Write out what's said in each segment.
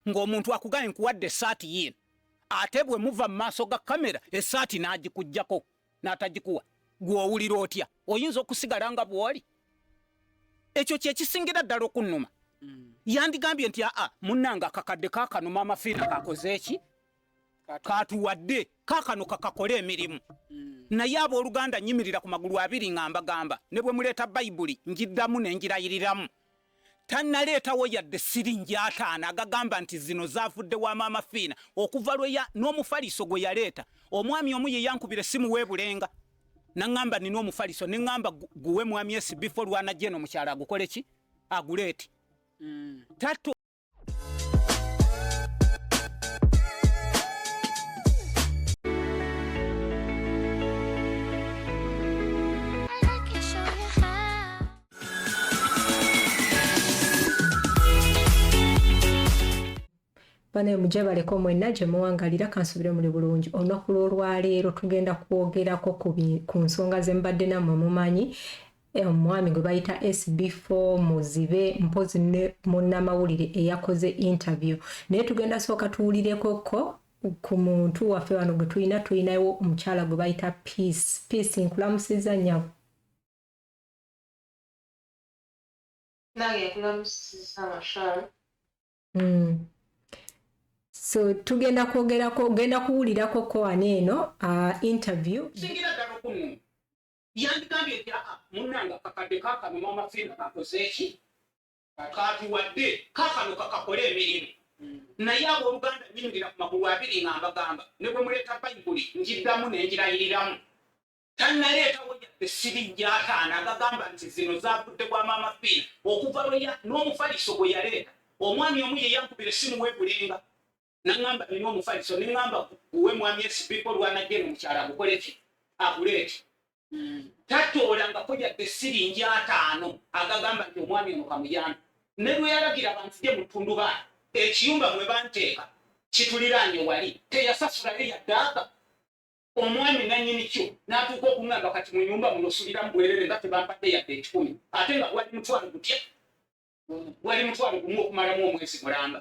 ng'omuntu akugambye nkuwadde esaati yiino ate bwe muva mu maaso ga kamera esaati n'agikugyako n'atagikuwa gw'owulira otya oyinza okusigala nga bw'oli ekyo kye kisingira ddala okunnuma mm. yandigambye nti aa munnange akakadde kakanuma amafiina kakoze eki katuwadde kakano kakakole emirimu mm. naye abooluganda nyimirira ku magulu abiri nga mbagamba ne bwe muleeta bayibuli ngiddamu ne ngirayiriramu tannaleetawo yadde siringi ataano agagamba nti zino zavudde wa maama fiina okuva lweya n'omufaliso gwe yaleeta omwami omu ye yankubira essimu weebulenga naŋŋamba nina omufaliso ne ŋŋamba guwe mwami esi bifo lwanajja eno mukyalo agukole ki aguleeti mm. bane mujebaleko mwena gye muwangalira kansubire muli bulungi olunaku lw'olwaleero tugenda kwogerako ku nsonga ze mbadde nammwe mumanyi Eh, omwami gwe bayita sb4 muzibe mpozi ne munnamawulire eyakoze interview naye tugenda sooka tuwulireko ko ku muntu waffe wano gwe tulina tulinawo omukyala gwe bayita peace peace nkulamusiza nyabo hmm. so tugenda kwogerako genda kuwulirako ko ani eno ah, interview yandigambye nti aa munanga kakadde kakano mama fina kakozeeki katuwadde kakano kakakole emirimu hmm. naye abooluganda nyingira ku magulu abiri nga mbagamba ne bwe muleeta bayibuli ngiddamu ne ngirayiriramu tannaleetawo yadde siri gyataana agagamba nti zino zavudde bwa mama fina okuva lweya n'omufaliso gwe yaleeta omwami omu ye yankubira essimu weebulenga nangamba nina omufaliso nengamba guwe mwami esibiko lwanajja eno mukyala gukole ki agule eki hmm. tatoolangako yadde siringi ataano agagamba nti omwami ono kamuyambi ne lweyalagira abantu gye mutundubaali ekiyumba mwe banteeka kituliraanye wali teyasasulayo yaddaaka omwami nanyini kyo natuuka okungamba kati munyumba muno suliramu bwerere nga tebampadde yadde ekikumi ate nga gwali mutwalo gutya gwali mutwalo gumu okumalamu omwezi mulamba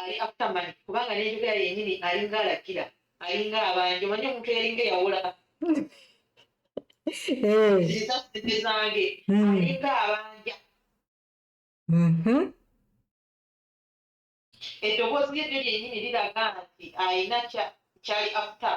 ali after money kubanga n'enjogera yennyini alinga alagira alinga abanja omanyi omuntu eyalinga eyawola ziza sente zange alinga abanja eddoboozi lyeryo lyennyini liraga nti alina kyali after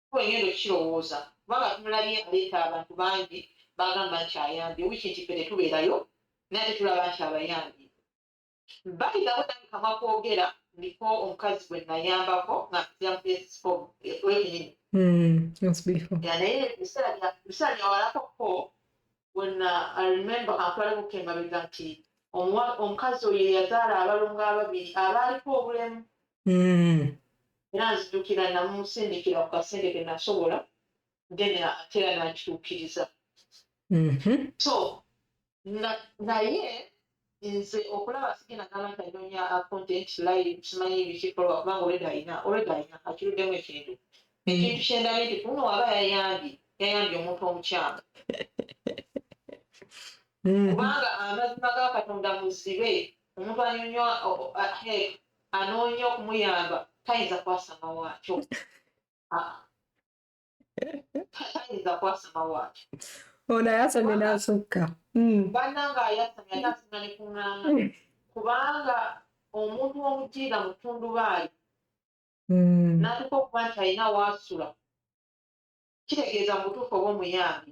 kuba ngenda okukirowooza kubanga tumulabye aleeta abantu bangi bagamba nti ayambye wiki nti ffe tetubeerayo naye ate tulaba nti abayambye bayidawo nange kamwa kwogera ndiko omukazi gwe nayambako nga mpitira mu esifo enyini naye ebiseera byawalako ko when uh, I remember kampala buke mabega nti omukazi oyo eyazaala abalongo ababiri abaaliko obulemu hmm. era nzijukira namusindikira ku kasente ke nasobola then ate era nakituukiriza mhm. so naye nze okulaba sigenda gamba nti anoonya content live simanyi bikikolwa kubanga olwedde alina olwedde alina akiruddemu ekintu hmm. ekintu kyendabye nti kuno waba yayambye yayambye omuntu omukyamu hmm. kubanga amazima ga katonda muzibe omuntu anyonyo anoonya okumuyamba tayinza kwasamawaakyo ah. tayinza kwasama waaki ono ayasamye nasukka hmm. bananga ayasamye ate asinga ne kuŋŋaana hmm. kubanga omuntu omutiira mu tundubaayi hmm. natuka okuba nti alina waasula kitegeeza mu butuufu oba omuyambi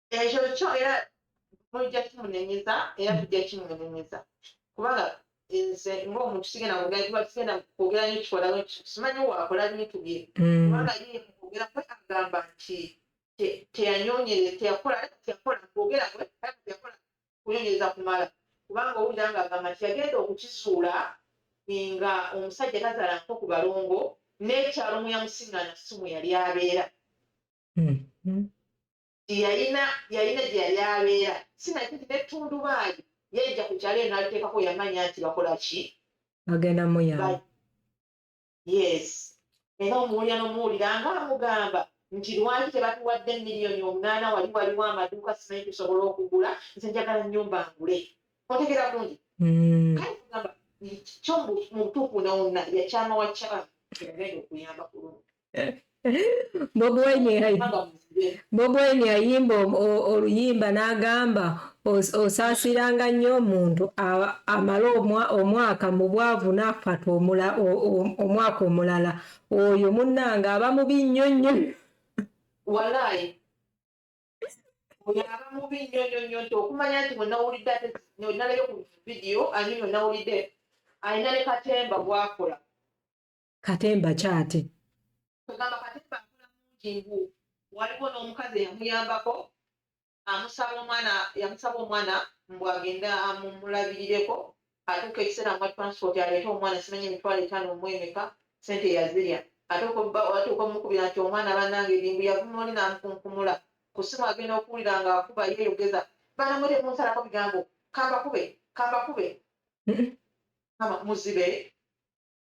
ekyo kyo era mujja kimunenyeza era tujja kimunenyeza kubanga nze ngaomuntu sigenda kugaikuba tugenda kwogera nyo kikola simanyi wakola bintu bye mm. kubanga ye kwogera kwe agamba nti teyanyonyere teyakola teyakola kwogera kwe teyakola kunyonyereza kumala kubanga owulira nga agamba nti yagenda okukizuula nga omusajja tazaala nko ku balongo n'ekyalo muyamusiŋana si mwe yali abeera mm-hmm. yalina yalina gye yali abeera sinaki nti nettundubaali yajja ku kyalo eno aliteekako yamanya nti bakola ki agenda muyamba yes era omuwulira nomuwulira nga amugamba nti lwaki tebatuwadde miliyoni omunaana wali waliwo amaduuka simanyi tusobola okugula nze njagala nyumba ngule otegera kungi mm. kale kugamba kyo mubutuufu nawonna yakyama wakyama yagenda okuyamba kulungi bobweni ayimba oluyimba n'agamba osaasiranga nnyo omuntu amala omwaka mu bwavu n'afata omwaka omulala oyo munnange aba mubi nnyo nnyo walaayi oyo aba mubi nnyo nnyo nnyo nti okumanya nti wenawulidde ate nalabye ku vidiyo ani wenawulidde alina ne katemba gwakola katemba kyate ogamba katemba akola mungi ngu waliwo n'omukazi eyamuyambako amusaba omwana yamusaba omwana mbu agende amumulabirireko atuuka ekiseera mwa transport aleete omwana simanyi emitwalo etaano omwemeka sente yazirya ate atuuka omukubira nti omwana banange erimbu yavuma oli n'amukunkumula ku simu agenda okuwulira nga akuba yeeyogeza banamwe temunsalako bigambo kambakube kambakube muzibe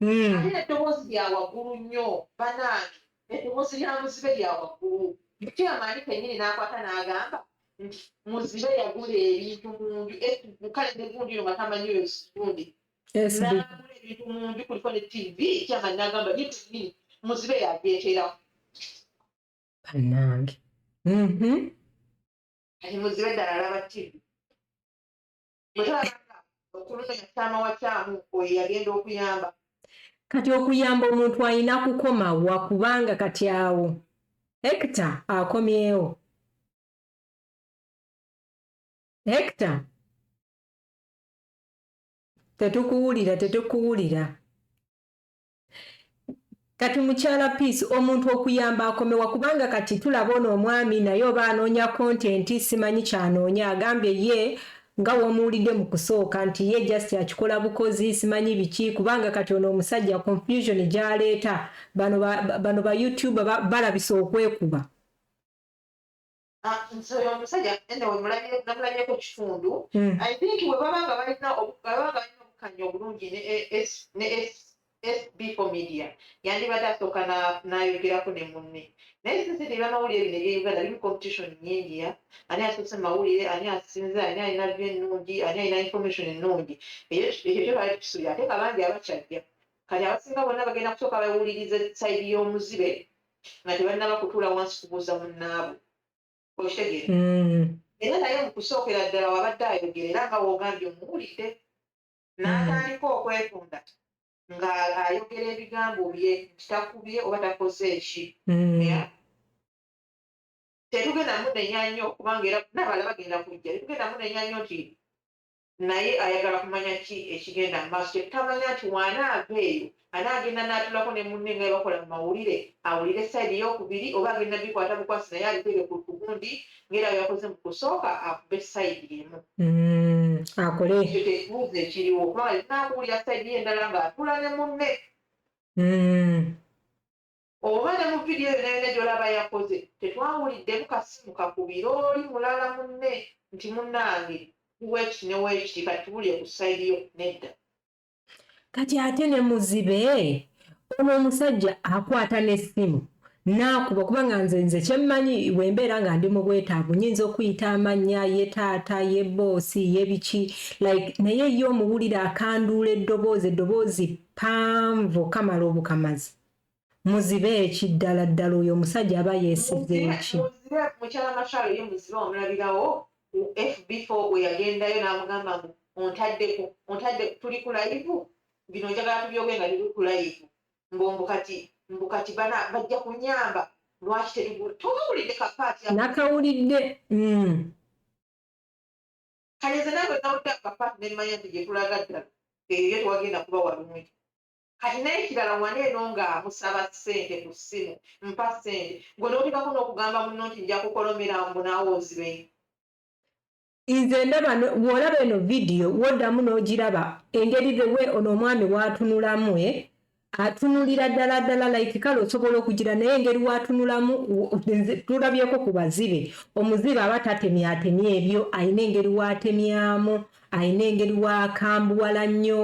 hmm. ate eddoboozi lya waggulu nnyo banaange eddoboozi lya muzibe lya waggulu kyamaanyi kenyini n'akwata n'agamba nti muzibe yagula ebintu mu nju kale ne gundi yo nga tamanyi oyo gundi n'agula ebintu mu nju kuliko ne tv kyamaanyi n'agamba ye kenyini muzibe yajeeterawo bannange mm-hmm. kati muzibe ddala alaba tv kati okuyamba omuntu alina kukoma wa kubanga kati awo hekita akomyewo hekita tetukuwulira tetukuwulira Kati mukyala peace omuntu okuyamba akomewa kubanga kati tulaba ono omwami naye oba anoonya content simanyi kyanoonya agambye ye nga womuwulidde mu kusooka nti ye just akikola bukozi simanyi biki kubanga kati ono omusajja confusion gyaleeta bano ba, bano ba youtuber balabisa okwekuba Ah, nti oyo omusajja enda wemulabyeko kitundu hmm. i think webaba nga balina baba nga balina obukanya obulungi ne sbfo media yandibadde asooka nayogerako ne munne naye sinsi ti bamawulire bino ebyeuganda biri competition nyingi ya ani asoose mawulire ani asinze ani alina vyo ennungi ani alina information ennungi ekyo kyo bali tusubi ate kabangi abakyajja kati abasinga bonna bagenda kusooka bawuliriza side y'omuzibe nga tebannaba kutuula wansi kubuuza munnaabwe okitegeera mm. era naye mu kusookera ddala wabadde ayogera era nga woogambye omuwulidde n'atandika mm. okwetunda nga ayogera ebigambo bye nti takubye oba takoze eki mm. tetugenda munenya nnyo kubanga era nabala bagenda kujja tetugenda munenya nnyo nti naye ayagala kumanya ki ekigenda mu maaso. Kye tutamanya nti w'anaava eyo anaagenda n'atuulako ne munne nga bwe bakola mu mawulire awulire sayidi eyookubiri oba agenda bikwata bukwasi naye abiteeke ku gundi ng'era bwe yakoze mu kusooka akube sayidi emu mm, akole ekyo kye kibuuzo ekiriwo kubanga linakuwulira sayidi ye endala ng'atuula ne munne mm. Oba ne mu vidiyo yona yona gyolaba yakoze tetwawuliddemu kasimu kakubire oli mulala munne nti munange ndi wekiti ne wekiti kati tubulire ku side yo nedda. Kati ate ne muzibe ono omusajja akwata ne simu naakuba kuba nga nze nze kyemmanyi wembeera nga ndi mu bwetaavu nyinza okuyita amannya ye taata ye boosi ye biki like naye ye omuwulira akanduula eddoboozi eddoboozi panvu kamala obukamazi Muzibe ki ddala ddala oyo omusajja aba yesize ki. Muzibe mukyala Machar ye muzibe wamulabirawo ku FB four bweyagendayo namugamba mbu ontaddeko ontadde tuli ku layivu bino njagala tubyoge nga tuli ku layivu mbu mbu kati mbu kati bana bajja kunyamba lwaki tetugula tokawulidde ka part ya nakawulidde mm. kale nze nawe nawulidde ka part nemmanya nti gyetulaga ddala eyo ye twagenda kuba walungi Kati nekirala wano eno nga musaba sente ku simu mpa sente gwe notekako nokugamba muno nti njakukolomera mbu naawe ozibe. Nze ndaba bwolaba eno video wodamu nogiraba engeri the way ono omwami watunulamu eh atunulira dala dala like kale osobola okugira naye engeri watunulamu tulabyeko ku bazibe omuzibe aba tatemya atemya ebyo ayina engeri watemyamu alina engeri wakambuwala nnyo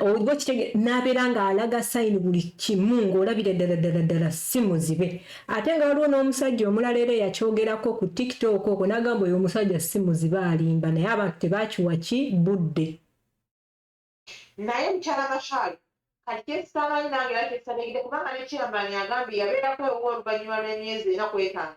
oba kitege n'abeera ng'alaga sayini buli kimu ng'olabira ddala ddala ddala si muzibe ate nga waliwo n'omusajja omulala era eyakyogerako ku tiktok okwo n'agamba oyo omusajja si muzibe alimba naye abantu tebakiwa ki budde naye mukyala mashal kati kyesisamanyi nange era kyesisategede kubanga ne chairman agambye yabeerako ewuwe oluvannyuma lw'emyezi ena kwetaano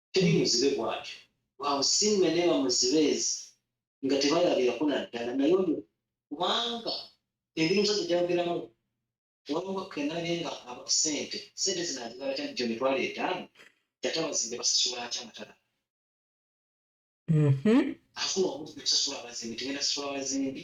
teri muzibe bwatyo. Waawo singa neba muzibe ezi nga tebalabirako naddala naye oyo kubanga engeri omusajja gyayogeramu waliwo kenabye nga aba sente sente zino azigala kya jjo mitwalo etaano kyate abazimbi basasula atya nga talaba afuna obudde okusasula abazimbi tegenda sasula abazimbi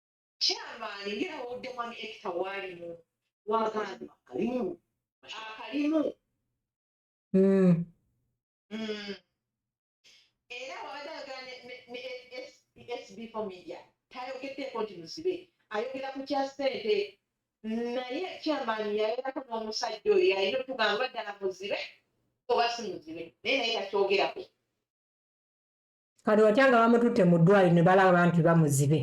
Chairman ngera wawudde mwami ekita waalimu wagamba akalimu akalimu hmm. Hmm. era wabadde ayogera ne sb for media tayogeddeeko nti musibe ayogera ku kya ssente naye chairman yayogako n'omusajja oyo yalina otugamba ddala muzibe oba si muzibe naye naye takyogerako kati watya nga bamututte mu ddwaliro ne balaba nti bamuzibe.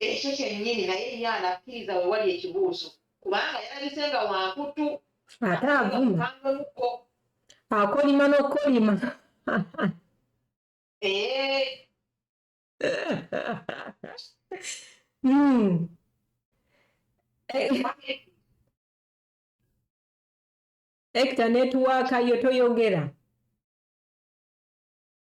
Ekyo kyennyini, naye ye anakkiriza we wali ekibuuzo, kubanga yalabise nga wa nkuttu, ate avuma, akolima n'okukolima. Eh. Hmm. Ekita netiwaaka yo toyogera.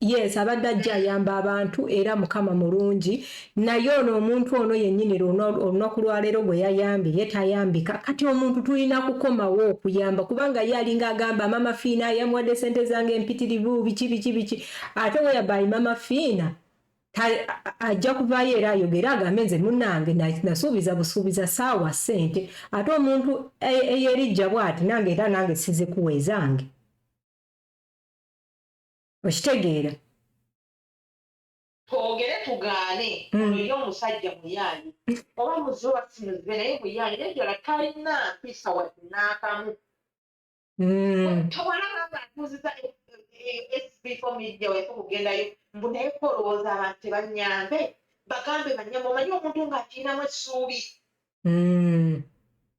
Yes, abadde ajja ayamba abantu era mukama mulungi naye ono omuntu ono yennyini olunaku lwaleero gwe yayambye ye tayambika kati omuntu tulina kukomawo okuyamba kubanga ye alinga agamba mama fiina yamuwadde sente zange empitirivu biki biki biki ate weyabayi mama fiina ajja kuvaayo era ayogere agambe nze munange nasuubiza busuubiza saawa sente ate omuntu eyerijja bwati nange era nange sizikuwa ezange okitegeera twogere tugaane hmm. ono ye omusajja muyaali oba muze wasimuzibe naye muyaali naye ddala talina mpisa wadde n'akamu hmm. tewalaba nga atuuziza e, e, e, sbfo media wese okugendayo mbu naye kolowooza abantu tebanyambe bagambe banyambe omanyi omuntu ng'akirinamu essuubi hmm.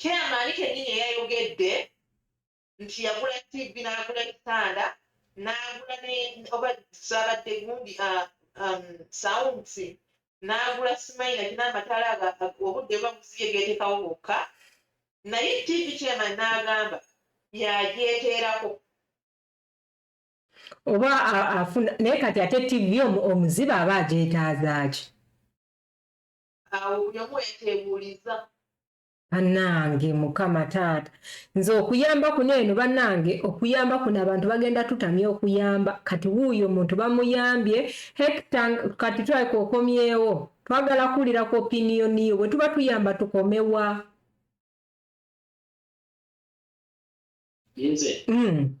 Chairman kennyini yayogedde nti yagula TV n'agula ekitanda n'agula ne oba zaabadde gundi uh, um, sounds n'agula simayina kina amataala obudde buba buziye geetekawo bokka naye TV chairman n'agamba yagyeteerako oba afuna naye kati ate TV omuziba aba agyetaazaaki awo buli omu wetebuuliza banange mukama taata nze okuyamba kuno eno banange okuyamba kuno abantu bagenda tutamya okuyamba kati wuuyo omuntu bamuyambye hekta kati twalika okomyewo twagala kuwulira ku opiniyoni yo bwe tuba tuyamba tukomewa nze mm.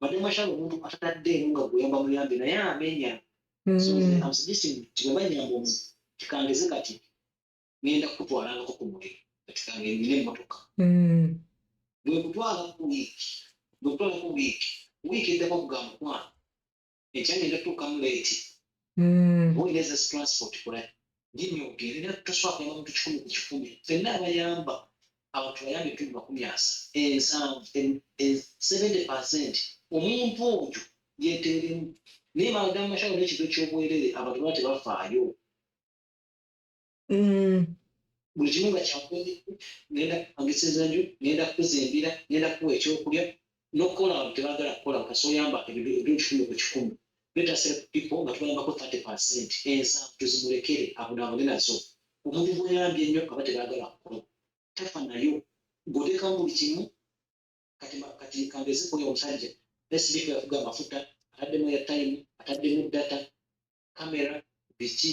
mademasha omuntu atatadde nga guyamba muyambi naye amenya tibanyamba omu kikangeze kati ngenda kukutwalangako ku muliro kati kange nina emmotoka bwekutwala ku wiiki bwekutwala ku wiiki wiiki eddako kugamba kwana ekyagenda tuukamu leeti hmm. owereza zitransport kola nyinyi ogende era toswala kuyamba muntu kikumi ku kikumi fenna abayamba abantu bayambe ebitundu makumi asa ensanvu seventy percent omuntu oyo yeteeremu naye maadamu mashawo n'ekintu eky'obwerere abantu baba tebafaayo mm. buli kimu nga kyakukoze ngenda kupangisa enju ngenda kukuza embira ngenda kukuwa ekyokulya nokukola abantu tebagala kukola kasi oyamba ebintu kikumi ku kikumi betasire ku pipo nga tubayambako 30 percent ensa tuzimulekere abonabone nazo omuntu gweyambye ennyo aba tebagala kukola tafa nayo gotekamu buli kimu kati kati kangeze koyo omusajja sdk yafuga amafuta ataddemu ya time ataddemu data kamera biki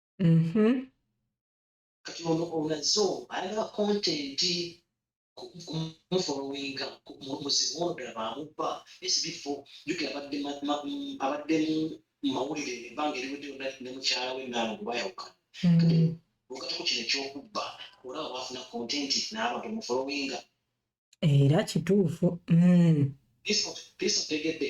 mm-hmm. kati ono olaze ayagala kontenti mufolowinga muzibu ono ddala bamubba esibifo jukira abadde abaddemu mumawulire ebbanga eriwedde yonna ne mukyala we naalo gwebayawukana okatako kino ekyokubba olaba bafuna kontenti n'abantu mufolowinga era kituufu mm. piisa otegedde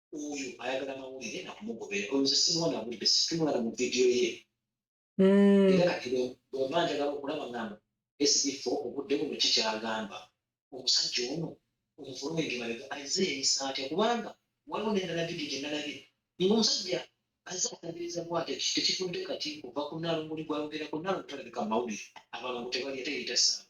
oyo ayagala mawulire nakumugobera oyo nze simuwa nawulire situmulaba mu vidiyo ye hmm. era kati bwemba njagala okulaba ngamba esifo obudde buno kikyagamba omusajja ono omufulumenge mabega azze yeyisa atya kubanga waliwo nendala vidiyo gyenalabye nga omusajja azze atabiriza bwate tekifudde kati kuva ku nalunguli gwayogerako nalungu talabika mawulire abalongo tebali ate yeyita saaba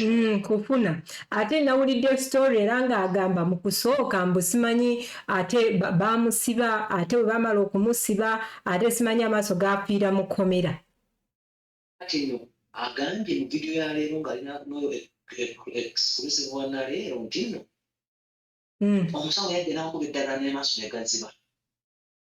Mm, kufuna ate nawulidde story era ng'agamba mu kusooka mbu simanyi ate bamusiba ate bwe bamala okumusiba ate simanyi amaaso gafiira mu kkomera kati no agambye mu vidiyo ya leero ng'ali noyo exclusive wa naleero nti no mm. omusawo yadde n'akuba eddagala n'amaaso ne gaziba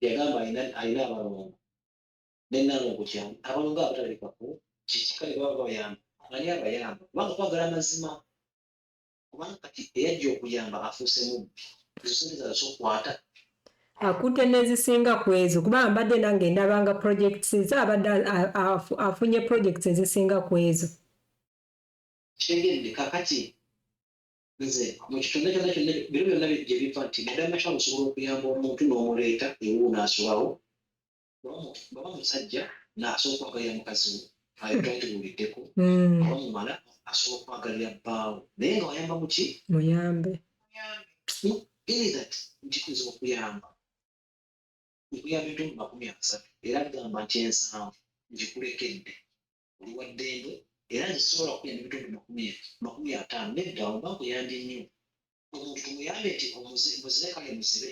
yagamba alina alina abalongo ne nalongo kyani abalongo abatalabikako kiki kale baba babayamba ani abayamba kubanga twagala mazima kubanga kati eyajja okuyamba afuuse mubbi ezo sente zala sokwata akutte n'ezisinga ku ezo kubanga mbadde nange ndabanga projects ze abadde afunye projects ezisinga ku ezo kitegedde kakati nze mu kitonde kyonna kyonna bino byonna gye biva nti madama kyalo osobola okuyamba omuntu n'omuleeta ewuwo n'asulawo baba musajja n'asooka okwagalira mukazi we ayo twali tuwuliddeko mm. oba mumala asobola okwagalira bbaawo naye nga wayamba muki muyambe that nti kuyinza okuyamba okuyamba ebitundu makumi asatu era gamba nti ensanvu ngikulekedde oli wa ddembe era nze sisobola kukulya nebitundu makumi makumi ataano nedda oba nkuyambye nnyo omuntu tumuyambe nti omuzibe kale muzibe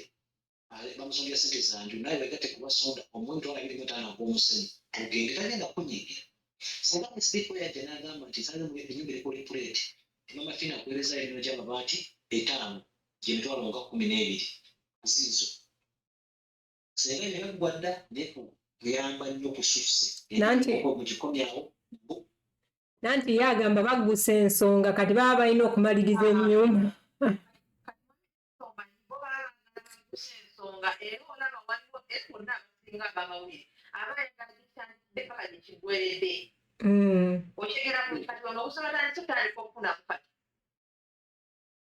bamusondera sente zanju naye wegatte kubasonda omu emitwalo abiri mu etaano ag'omusenyu tugende tagenda kunyigira singa musibiko yajja n'agamba nti nsalayo mu enyumba eri kuli puleeti emama fina kuwereza emino gy'amabaati etaano gyemitwalo nga kumi n'ebiri ziizo senga ebyo byaggwa dda naye kuyamba nnyo ku shifts nanti okugikomyawo nanti ye agamba baggusa ensonga kati baba balina okumaliriza ennyumba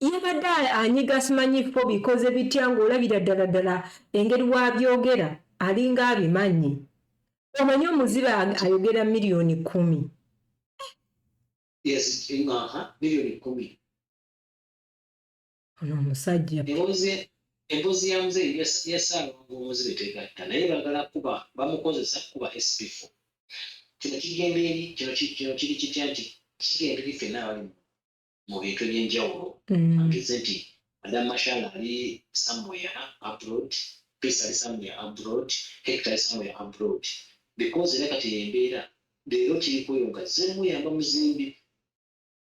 yabadde anyiga simanyiko bikoze bitya ng'olabira ddala ddala engeri wabyogera alinga abimanyi omanyi omuzibe ayogera miliyoni kumi ono omusajja emboozi ya muzeeyi ya ssaalongo omuzibe tegatta naye bagala kuba bamukozesa kuba sbf kino kigenda eri kino kino kiri kitya nti kigenda eri fenna abali mu bintu ebyenjawulo mm. angeze nti adam mashal ali somewhere abroad peace ali somewhere abroad hector ali somewhere abroad because era kati embeera leero kiri kweyo nga zemuyamba muzimbi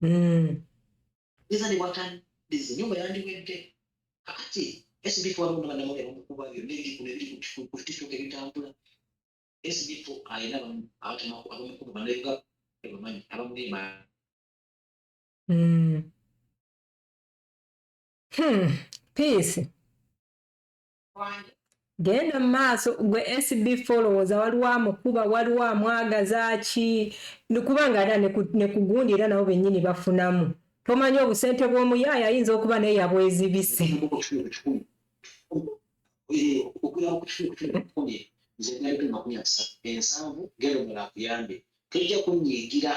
mm. nziza ne bwatandize nyumba yandiwedde kakati sbf waliwo nabanamawulire bamukuba byonna ebiri kuno ebiri ku tiktok ebitambula sbf alina abamukuba banayiga ebamanyi abamuli emaani mm. hmm. peace genda mu maaso gwe SB followers waliwo amukuba waliwo amwagaza ki kubanga era ne kugundi era nabo bennyini bafunamu tomanyi obusente bw'omuyaaya ayinza okuba naye yabwezibise tujja kunyigira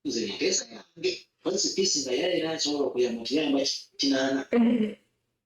nze nteesa yange kozesa piisi nga yaera nsobola okuyamba okiyamba kinaana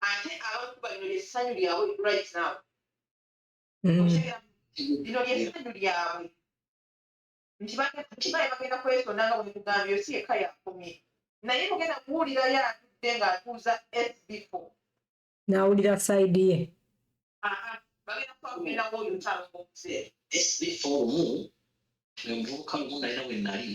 ate abantu balino lyessanyu lyabwe right now mm. lino lyessanyu lyabwe nti baye bagenda kwesonda nga bwemugambye osi yekka yakomye naye mugenda kuwulirayo atudde ng'atuuza sbfo n'awulira saidi ye bagenda kubakumira woyo ntalo ngomuzeeyi sbfo omu omuvubuka lumu nalina we nali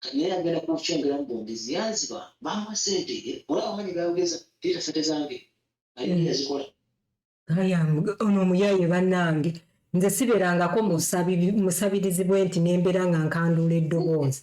kati naye agenda kukyongera mu bombi ziyanziba bamuwa sente eh, olaba amanyi gayogeza tita sente zange naye mm. yazikola ono omuyaye banange nze siberangako musabirizi bwe nti nembeera nga nkanduula eddoboozi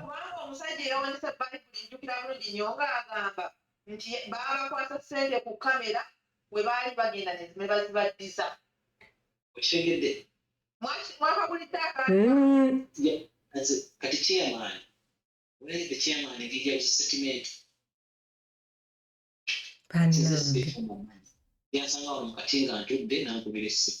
kubanga omusajja eyawanisa bayibuli njukira bulungi nyo nga agamba nti baabakwasa sente ku kamera we baali bagenda nezime bazibaddiza okitegedde mwakabulidde akanti hmm. chairman where the chairman he gives a statement yansanga wano mukati nga ntudde nankubira essimu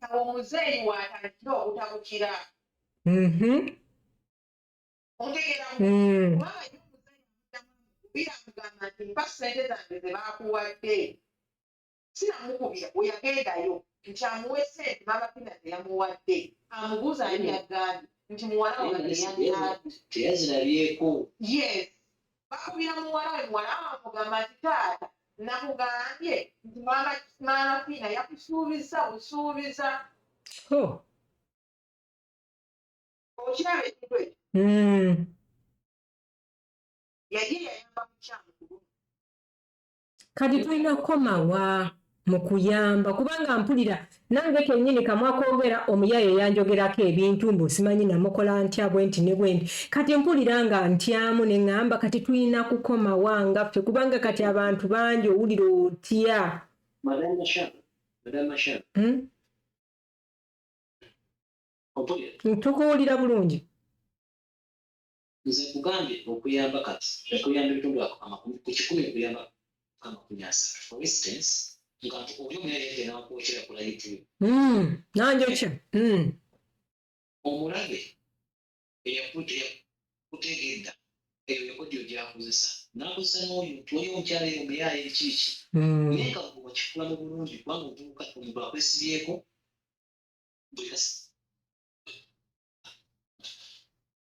kati omuzeeyi waatandikira obutabukira otegera kubanga biramugamba nti mpa sente zange ze baakuwadde siramukubira weyagendayo nti amuwe sente babapina ze yamuwadde amubuuza ani yagambye nti muwala wange yagambye teyazirabyeko yes bakubira muwala we muwala amugamba nti taata nakugambye nti maama maama fiina yakusuubiza busuubiza oh. okiraba ekintu ekyo hmm. yali yayamba mukyamu kati tulina kukomawa mu kuyamba kubanga mpulira nange kenyini kamwa kogera omuyaye yanjogerako ebintu mbu simanyi namukola ntya bwenti ne bwenti kati mpulira nga ntyamu ne ŋŋamba kati tulina kukomawa nga ffe kubanga kati abantu bangi owulira otya hmm? tukuwulira bulungi Nze nkugambye okuyamba kati okuyamba ebitundu ako amakumi ku kikumi okuyamba amakumi asatu for instance nga nti oli omuyayadde nakwokera ku layivu hmm, nanjokya hmm. omulabe eyakutegedda eyo yakodyo gyakozesa nakozesa noyo nti waliwo omukyala eyo omuyaye ekiiki hmm. naye nga wakikula mu bulungi kubanga otuuka omuntu akwesibyeko buli kasi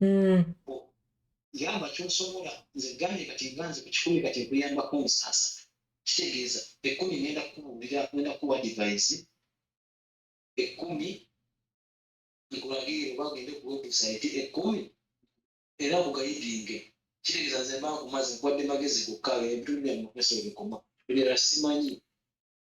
mm. yamba kyosobola nze gamye kati nganze ku kikumi kati nkuyambako omusasa kitegeeza ekumi ngenda kukubuulira ngenda kukuwa divayisi ekumi nkulagire oba ogende ku webusaiti ekumi era nkugayidinge kitegeeza nze mba nkumaze nkuwadde magezi gokka ebintu byamumaso ebikoma ebirala simanyi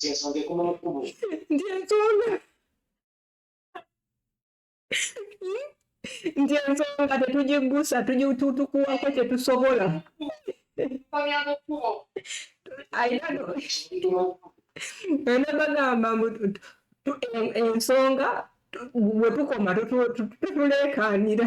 kyensonga ekoma mu kkubo ndi ensonga nti ensonga tetugiggusa tugitutukuwako kyetusobola ana bagamba mbu ensonga bwe tukoma tutuleekaanira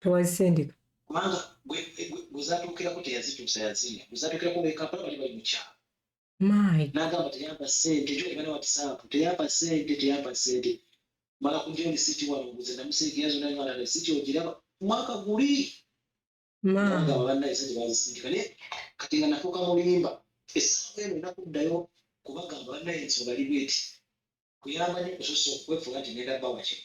tewazisindika kubanga gwezatuukirako teyazituusa yazirya gwezatuukirako bekampala bali bali mukyalo nagamba teyampa sente jo ebana watisaapu teyampa sente teyampa sente mala kuja olisiti wano nguze namusiikira zona nala resiti ogiraba mwaka guli nagamba banaye sente bazisindika naye kati nga nafuuka mulimba esaawa eno nakuddayo kubagamba banaye nsonga libweti kuyamba nyo kusosa okwefuula nti ngenda bawa kino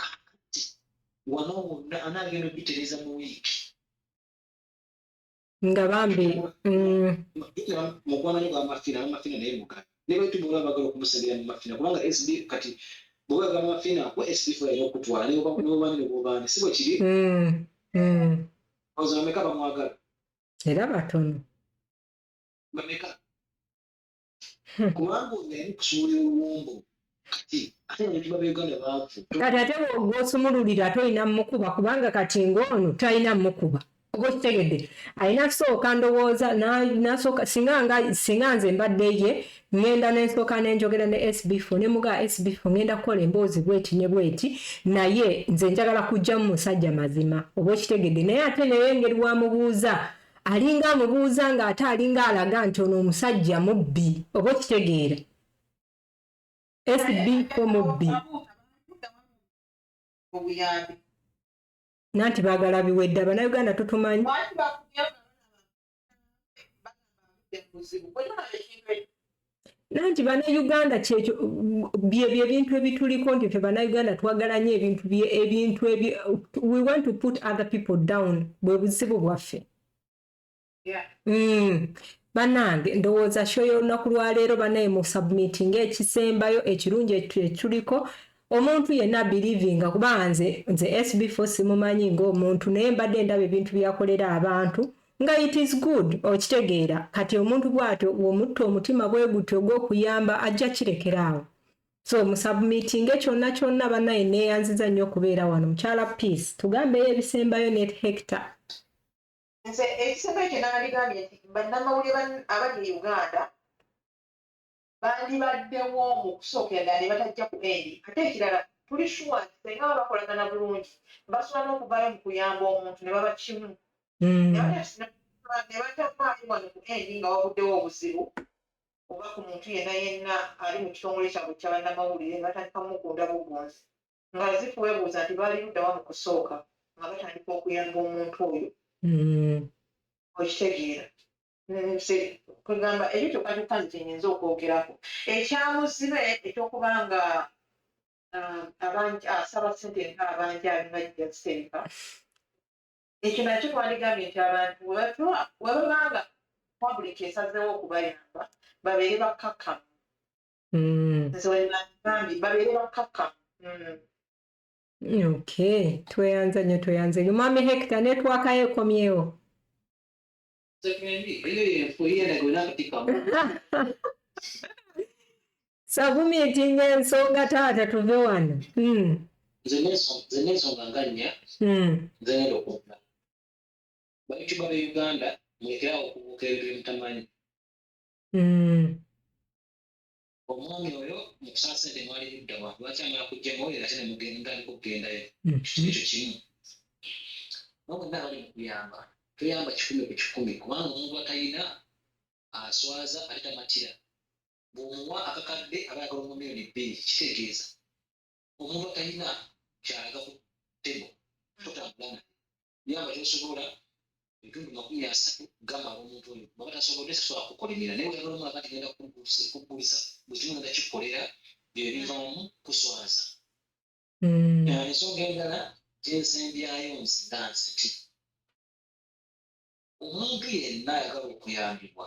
kakati wano wonna anaagenda okugitereeza mu wiiki nga bambi mm. mukwano gwa mafina mafina naye mugala ne baitu bwoba bagala okumusabira mu mafina kubanga sb kati bwoba bagala mafina ku sb fula era okutwala newobani newobani si bwe kiri mm, mm. oza bameka bamwagala era batono bameka kubanga ono yali kusuula oluwombo kati ate abantu babeuganda baavu kati ate wosumululira ate olina mukuba kubanga kati ngaono talina mukuba oba okitegedde alina kusooka ndowooza nasooka singa nze mbadde ye ngenda nensooka nenjogera ne sbfo ne muga sbfo ngenda kukola emboozi bweti ne bweti naye nze njagala kujjamu musajja mazima oba okitegedde naye ate naye engeri wamubuuza alinga amubuuza nga ate alinga alaga nti ono omusajja mubbi oba okitegeera fb ko mubbi nanti bagala biwedde abanauganda tutumanyi nanti banauganda kyekyo byebyo ebintu ebituliko nti fe banauganda twagala nyo ebintu ebintu ebyo we want to put other people down bwe buzibu bwaffe mm. banange ndowooza sho y'olunaku lwaleero banaye mu submitting ekisembayo ekirungi ekituliko omuntu yenna bilivinga kuba nze nze sb fo simumanyi ngaomuntu naye mbadde ndaba ebintu byakolera abantu Nga it is good okitegeera kati omuntu bwatyo womutta omutima bwegutyo ogwokuyamba ajja kirekera awo so musubmitinge kyonna kyonna banaye neyanziza nnyo okubeera wano mukyala peace tugambeyo ebisembayo net hector nze ekisembayo kyenandigambye nti bannamawulire abali e uganda bandibaddewo mu kusookera ddala ne batajja ku eni ate ekirala tuli shuwa nti senga baba bakolagana bulungi basobola n'okuvaayo mu kuyamba omuntu ne baba kimu hmm. ne batavaayo wano ku eni nga wabuddewo obuzibu oba ku muntu yenna yenna ali mu kitongole kyabwe kya bannamawulire ne batandika mugunda bugunzi nga zifu weebuuza nti baali luddawa mu kusooka nga batandika okuyamba omuntu oyo hmm. okitegeera nze kwegamba ebyo kyokka kyokka nze kyenyinza okwogerako ekyamuzibe ekyokuba nga um, asaba sente nka abanja alina jjaziteeka ekyo nakyo twandigambye nti abantu webabanga public esazeewo okubayamba babeere bakkakkamu mm. nze wenagambye babeere bakkakkamu mm. Okay, tweyanza nyo tweyanza nyo. Mami Hector netwaka yekomyewo. sakumitinga ensonga taata tuve wano hmm. nze nensonga nga nnya hmm. nze ngenda okuvuga bayutuba be uganda mulekerawo okubuuka ebintu byemutamanyi hmm. omwami oyo mukusala sente mwali luddawa lwaki amala kujja muoyo ate nemugenda aliko okugendayo hmm. kitu ekyo kimu nobonna abali mukuyamba tuyamba kikumi ku kikumi kubanga omuntu atayina aswaza ate tamatira bwomuwa akakadde aba yagala omu miliyoni bbiri kitegeeza omuntu atayina kyalaga ku tebo totambula naye yamba tosobola ebitundu makumi asatu gamba omuntu oyo baba tasobodde sisobola kukolimira naye weyalolomula kati genda kugulisa buli kimu genda kikolera byo bivaamu kuswaza mm. eh, ensonga endala gyensembyayo nze nga nze ti omuntu yenna ayagala okuyambibwa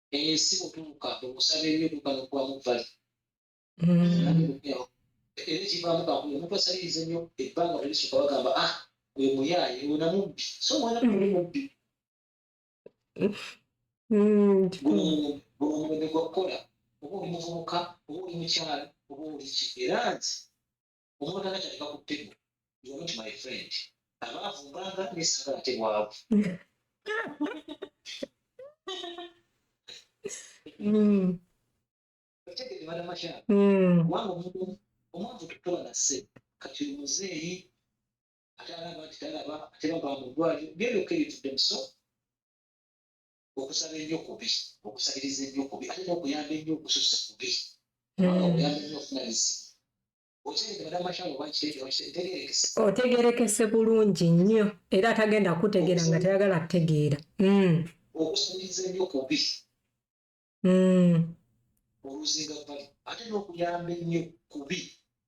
eyo si kutuuka okusaba ennyo kuka nokubamu vali era ekivaamu kakulu omuntu asaliriza ennyo ebbanga telisuka bagamba a ah, oyo muyaaye wona mubbi so mwana muli mubbi guno omwene gwakukola oba oli muvubuka oba oli mukyala oba oli ki era nti omuntu agataleka ku ttego you are not my friend abaavu mbanga nesagala ate bwavu otegere balamasha kubanga omuntu omwavu tutoba nasse kati omuzeeyi atalaba nti talaba ate baba mu ddwaliro byebyoka ebitudde muso okusaba ennyo kubi okusabiriza ennyo kubi ate n'okuyamba ennyo okususse kubi otegerekese bulungi nnyo era atagenda kutegeera nga tayagala kutegeera hmm. okusabiriza ennyo kubi hmm. oluzinga bali ate n'okuyamba ennyo kubi